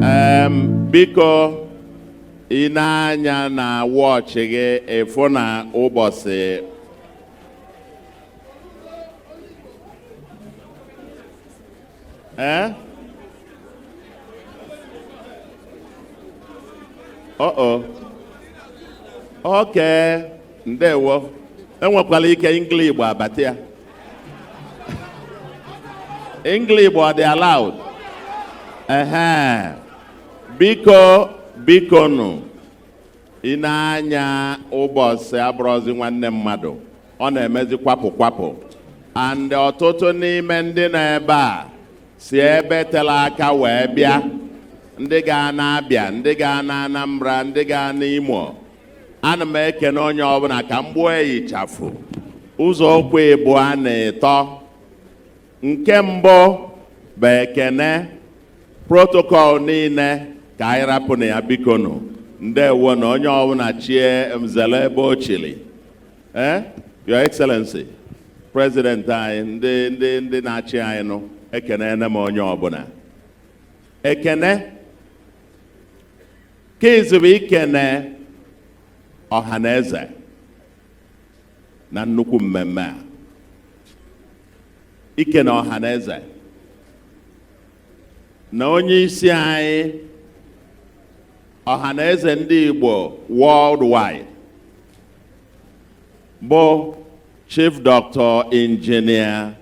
biko ị nee anya na wọchị gị ị fụ na ụbọchị ee eh? ọ ọ okay ndewo enwekwala ike Engligbo abata ya English ọ dị allowed? Ehe. Biko biko nụ ị nee anya ụbọchị abụrọzi nwanne mmadụ ọ na-emezi kwapụ kwapụ and ọtụtụ n'ime ndị nọ ebe a si ebe tere aka wee bịa ndị ga-ana Abia ndị ga-ana Anambra ndị ga-ana Imo ana m ekene onye ọbụla ka m gbuo ya ịchafụ ụzọ okwu ịbụa na ịtọ nke mbụ bụ ekene protocol niile ka anyị rapụnụ ya bikonu ndewonụ onye ọbụla chie m zere ebe o chiri ee eh? your excellency president anyị ndị ndị ndị na-achị anyị nụ ekenee m onye ọbụla ekene nke izizi bụ ikene Ọhanaeze na nnukwu mmemme a ikene Ọhanaeze na onye isi anyị Ọhanaeze ndị Igbo worldwide bụ Chief Dr. Engineer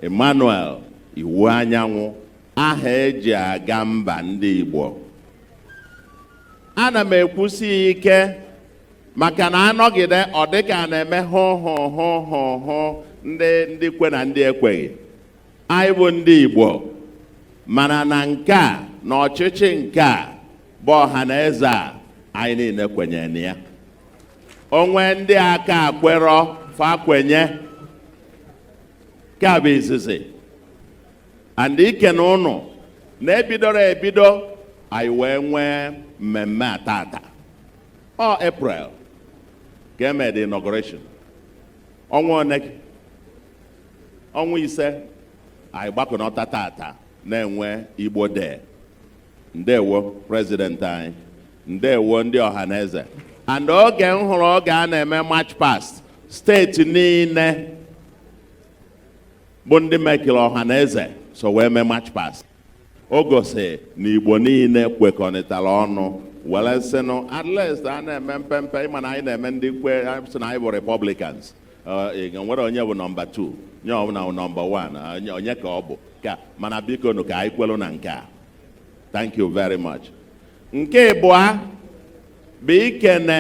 Emmanuel Iwuanyanwụ aha eji aga mba ndị Igbo ana m ekwusi ike maka na a nọgide ọ dịka a na-eme hụ hụ hụ hụ hụ ndị ndị kwe na ndị ekweghị anyị bụ ndị Igbo mana na nke a na ọchịchị nke a bụ Ọhanaeze a anyị niile kwenyere na ya o nwee ndị aka ekwerọ fa kwenye nke a bụ izizi and ikene ụnụ na ebidoro ebido anyị wee nwee mmemme a tata ọ April ka eme the inauguration ọnwa one ọnwa ise anyị gbakọnọta tata na-enwe Igbo Day ndewo president anyị ndewo ndị Ọhanaeze and oge m hụrụ oge a na-eme march past steeti niile bụ ndị mekiri Ọhanaeze so wee mee march past o gosi na igbo niile kwekọrịtara ọnụ were sịnụ at least a na-eme mpempe ịma na anyị na-eme ndị kwe sị na anyị bụ republicans enwerọ onye bụ nọmba 2 onye ọbụla bụ nọmba 1 onye ka ọ bụ ka mana biko nụ ka anyị kwelu na nke a thank you very much nke ịbụa bụ ikene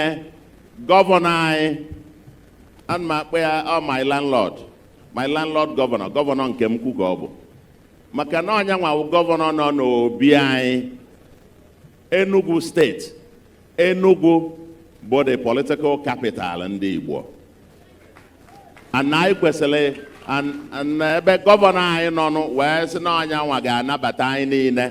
gọvanọ anyị ana m akpọ ya ọ oh, my landlord my landlord gọvanọ gọvanọ nke m kwu ka ọ bụ maka na ọ nya nwa wụ gọvanọ nọ n'obi anyị Enugu steeti Enugu bụ the political capital ndị Igbo and anyị kwesịrị na ebe gọvanọ anyị nọ wee sị na ọ nya nwa ga-anabata anyị niile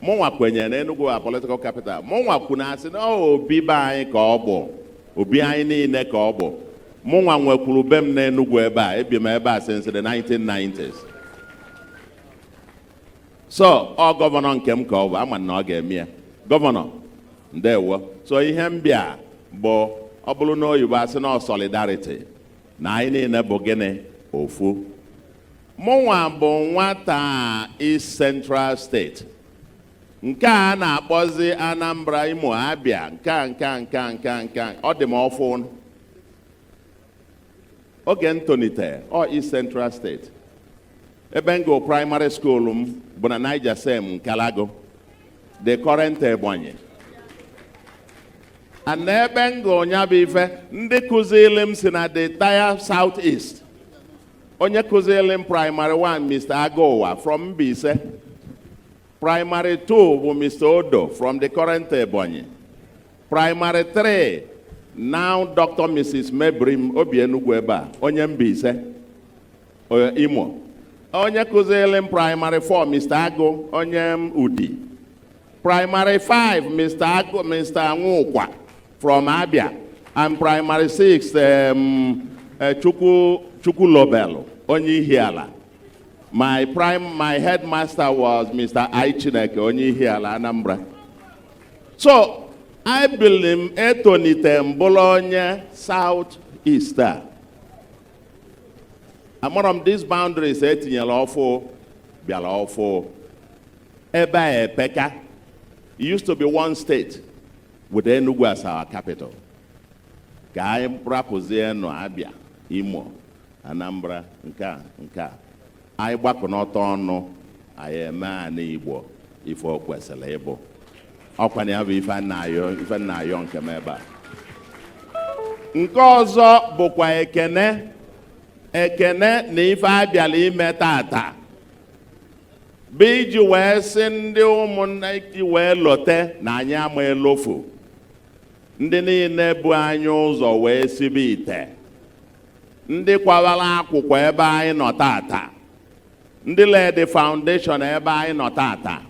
mụnwa kwenyere na Enugu a political capital mụnwa kwu na-asị na obi be anyị ka ọ bụ obi anyị niile ka ọ bụ mụnwa nwekwuru be m na Enugu ebe a ebi m ebe a since the 1990s so ọ gọvanọ nke m ka ọ bụ ama m na ọ ga-eme ya gọvanọ ndewo so ihe m bịa bụ ọ bụrụ na oyibo asị na solidarity na anyị niile bụ gịnị ofu mụnwa bụ nwata East Central State nke a na-akpọzi Anambra Imo Abia nke a nke a nke a nke a nke a ọ dị m ọfụụ oge m tolite ọ East Central State ebe m gụrụ praịmarị skuulu m bụ na Nigercem Nkalagu the current Ebonyi and n'ebe m gụrụ ya bụ ife ndị kụziri m si na the entire South East onye kụziri m praịmarị 1 Mr. Agụwa from Mbaise praịmarị 2 bụ Mr. Odo from the current Ebonyi praịmarị 3 now Dr. Mrs. Mebrim o bi Enugwu ebe a onye Mbaise Imo onye kụziri m praịmarị 4 Mr. Agụ onye Udi praịmarị 5 Mr. Agụ Mr. Nwaụkwa From Abia, and primary six, um, uh, Chukwu, Chukwulobelu, onye Ihiala. My prime, my headmaster was Mr. I. Chineke onye Ihiala Anambra. So, I believe etonite m bụlụ onye South East. Amarọ m these boundaries e tinyelu ọfụụ bịara ọfụụ ebe a epeka it used to be one state With Enugu as our capital, ka anyị rapụzienụ Abia, Imo, Anambra, nke a nke a anyị gbakọnọta ọnụ anyị eme anị Igbo ife o kwesịrị ịbụ ọkwa na ya bụ ife m na-ayọ nke m ebe a nke ọzọ bụkwa ekene ekene na ife a bịalụ ime tata bụ iji wee sị ndị ụmụnna iji wee lote na anyị ama elofu ndị niile bu anyị ụzọ wee sibe ite ndị kwawara akwụkwọ ebe anyị nọ tata ndị laid foundation ebe anyị nọ tata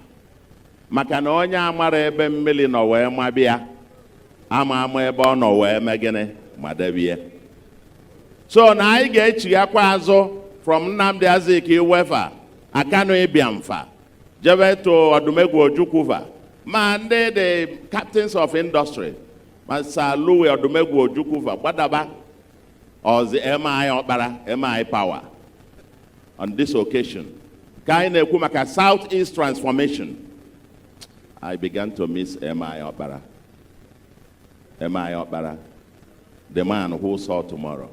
maka na onye amarọ ebe mmili nọ wee maba ya ama ama ebe ọ nọ wee mee gịnị madebe ya so na anyị ga-echighakwa azụ from Nnamdi Azikiwe fa Akanu Ibiam fa jebe to Odumegwu Ojukwu va ma ndị the captains of industry ma Sir Louis Odumegwu Ojukwu va gbadaba ọzi MI Ọkpara MI Power on this occasion ka anyị na-ekwu maka South East Transformation I began to miss MI Ọkpara MI Ọkpara the man who saw tomorrow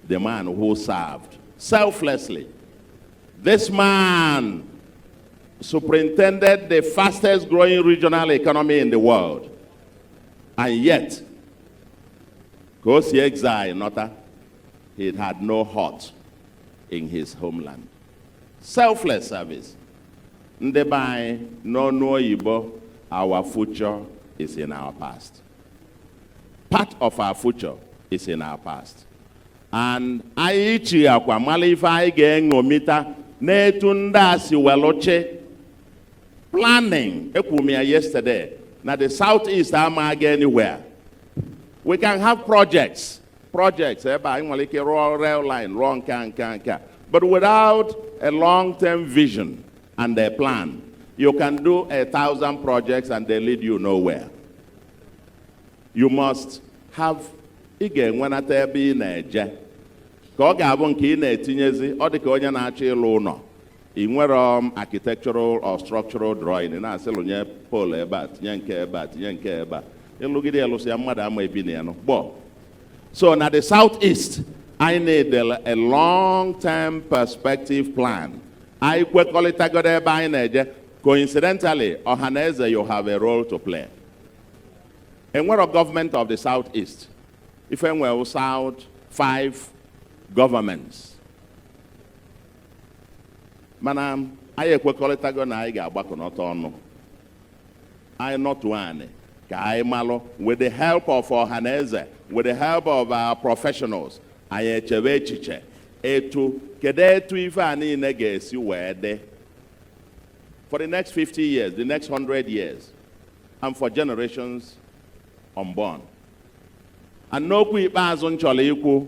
the man who served selflessly this man superintended the fastest growing regional economy in the world and yet Ka o si exile nọta, he had no hut in his homeland. Selfless service. Ndị be anyị n'ọnụ oyibo our future is in our past. Part of our future is in our past. And anyị chighaakwa malụ ife anyị ga-eṅomita n'etu ndị a si welụ chị planning ekwuru m ya yesterday na the south east ama aga anywhere we can have projects projects ebe anyị nwere ike rụọ rail line rụọ nke a nke a nke a but without a long term vision and a plan you can do a thousand projects and they lead you nowhere you must have ị ga-enwenata ebe ị na-eje ka ọ ga-abụ nke ị na-etinyezi ọ dị ka onye na-achọ ịlụ ụnọ ị nwerọ architectural or structural drawing na-asị lụnye pole ebe a tinye nke ebe a tinye nke ebe a ị lụgide ya lụsịa ya mmadụ ama ebi na ya nọ gbọọ so na the south east anyị need a long term perspective plan anyị kwekọrịtagodo ebe anyị na-eje coincidentally Ọhaneze you have a role to play enwerọ government of the south east ife enwere south five governments mana anyị ekwekọrịtago na anyị ga-agbakọnọta ọnụ anyị nọtụ anị ka anyị malụ with the help of Ọhaneze with the help of our professionals anyị echebe echiche etu kedu etu ife a niile ga-esi wee dị for the next 50 years, the next 100 years, and for generations unborn. And n'okwu ikpeazụ m chọlọ ikwu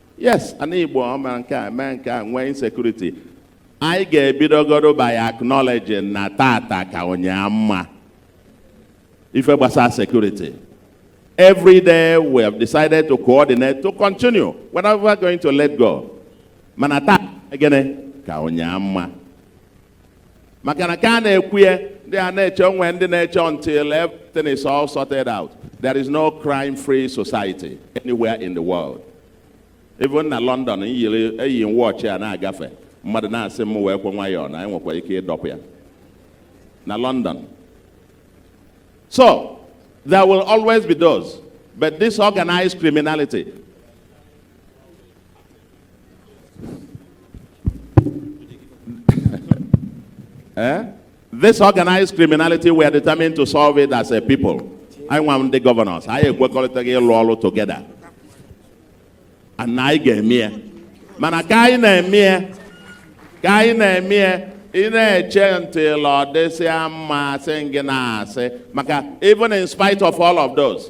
yes ana igbo ọ mere nke a mee nke a nwee insecurity anyị ga-ebidogodu by acknowledging na tata ka ụnyaa mma ife gbasara security every day we have decided to coordinate to continue we are never going to let go mana taa gịnị ka ụnyaa mma maka na ka a na-ekwu ya ndị a na-eche o nwe ndị na-eche until everything is all sorted out there is no crime free society anywhere in the world even na London eyiri eyi m watch a na-agafe mmadụ na-asị m weekwa nwayọọ na e nwekwara ike ịdọpụ ya na London so there will always be those but this organized criminality eh? This organized criminality, we are determined to solve it as a people. Anyịwa ndị governors, anyị ekwekọlịtago ịlụ ọlụ together. And anyị ga-eme ya. Mana ka anyị na-eme ya, ka anyị na-eme ya, ị na-eche until ọ dịsịa mma, asị ka ị na-asị maka even in spite of all of those.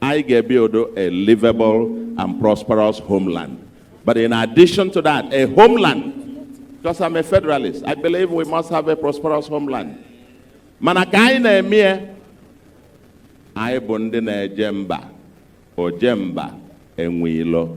anyị ga-ebuild a livable and prosperous homeland. But in addition to that, a homeland, because I'm a federalist, I believe we must have a prosperous homeland. Mana ka anyị na-eme ya, anyị bụ ndị na-eje mba, oje mba enwe ilo.